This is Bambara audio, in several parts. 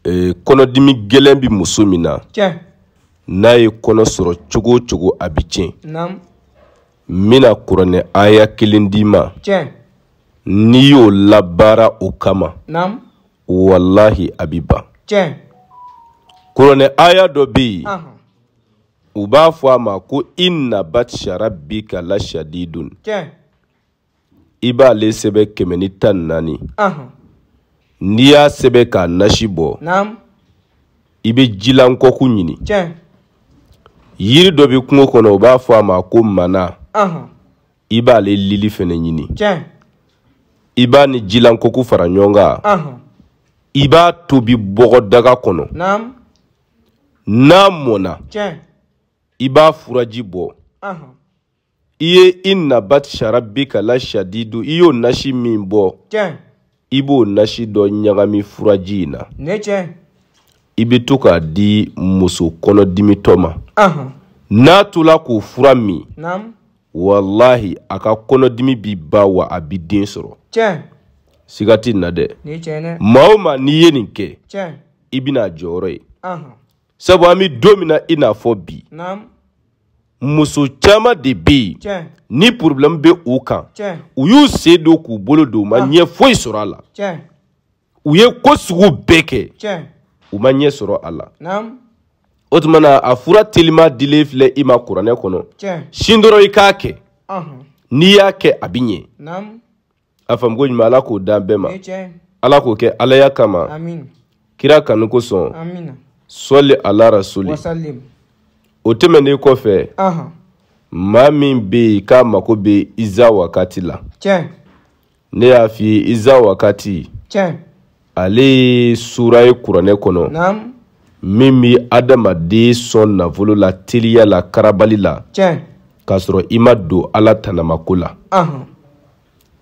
ee, kɔnɔdimi gɛlɛn bɛ muso min na n'a ye kɔnɔ sɔrɔ cogo o cogo a bɛ tiɲɛ n bɛna kuranɛ aya kelen d'i ma n'i y'o labaara o kama walahi a bɛ ban kuranɛ aya dɔ bɛ yen u b'a fɔ a ma ko inna batsha rabbika la shadidun i b'ale sɛbɛ kɛmɛ ni tan ni naani n'i y'a sɛbɛ k'a nasi bɔ i bɛ jilankɔku ɲini yiri dɔ bɛ kungo kɔnɔ u b'a fɔ a ma ko mana i b'ale lili fɛnɛ ɲini i b'a ni jilankɔku fara ɲɔgɔn kan i b'a tobi bɔgɔdaga kɔnɔ n'a mɔna i b'a furaji bɔ i ye inna batsha rabbika la shadidu i y'o nasi min bɔ i b'o nasi dɔ ɲagami furaji in na i bɛ to k'a di muso kɔnɔdimitɔ ma n'a tola k'o fura min walahi a ka kɔnɔdimi bi ban wa a bi den sɔrɔ siga tɛ n na dɛ maa o maa n'i ye nin kɛ i bɛn'a jɔyɔrɔ ye sabu an bɛ don min na i n'a fɔ bi muso caman de bɛ yen ni porobilɛmu bɛ u kan u y'u sen don k'u bolo don u ma ɲɛ foyi sɔrɔ a la u ye ko sugu bɛɛ kɛ u ma ɲɛ sɔrɔ a la o tuma na a fura telima dilen filɛ i ma kuranɛ kɔnɔ sin dɔrɔn i k'a kɛ n'i y'a kɛ a bɛ ɲɛ a faamu ko ɲuman ala k'o d'an bɛɛ ma ala k'o kɛ alaya kama kira kanu kosɔn sɔli ala rasuli o tɛmɛnen kɔfɛ maa min bɛ yen k'a mako bɛ iza wakati la ne y'a f'i ye iza wakati ale ye sura ye kuranɛ kɔnɔ min bɛ adamaden sɔn nafolo la teliya la karabali la k'a sɔrɔ i ma don ala tanamako la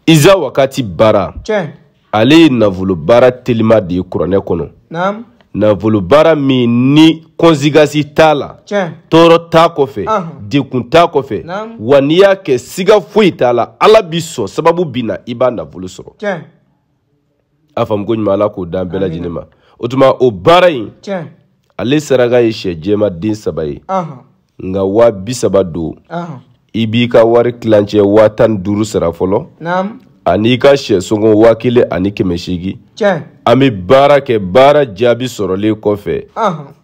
iza wakati baara ale ye nafolo baara telima de ye kuranɛ kɔnɔ nafolo baara min ni kɔnsigasi t'a la tɔɔrɔ t'a kɔfɛ dekun t'a kɔfɛ wa n'i y'a kɛ siga foyi t'a la ala bi sɔn sababu bi na i b'a nafolo sɔrɔ a faamu ko ɲuman ala k'o d'an bɛɛ lajɛlen ma o tuma o baara in ale saraka ye sɛ jɛma den saba ye nka waa bi saba don i b'i ka wari tilancɛ waa tan ni duuru sara fɔlɔ ani i ka sɛ sɔngɔ waa kelen ani kɛmɛ seegin an bɛ baara kɛ baara jaabi sɔrɔlen kɔfɛ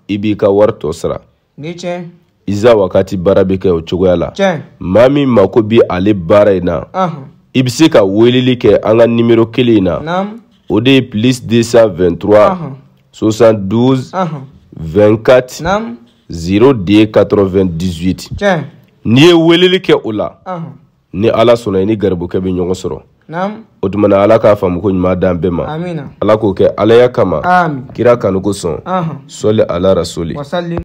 i b'i ka wari tɔ sara ni tiɲɛ iza wakati baara bɛ kɛ o cogoya la tiɲɛ maa min mako bɛ ale baara in na i bɛ se ka weleli kɛ an ka nimero kelen in na o de ye plus 223 72 24 02 98 tiɲɛ n'i ye weleli kɛ o la ni ala sɔnna i ni garibukɛ bɛ ɲɔgɔn sɔrɔ o tuma na ala k'a faamu ko ɲuman d'an bɛɛ ma ala k'o kɛ alaya kama kira kanu kosɔn sɔli ala rasuli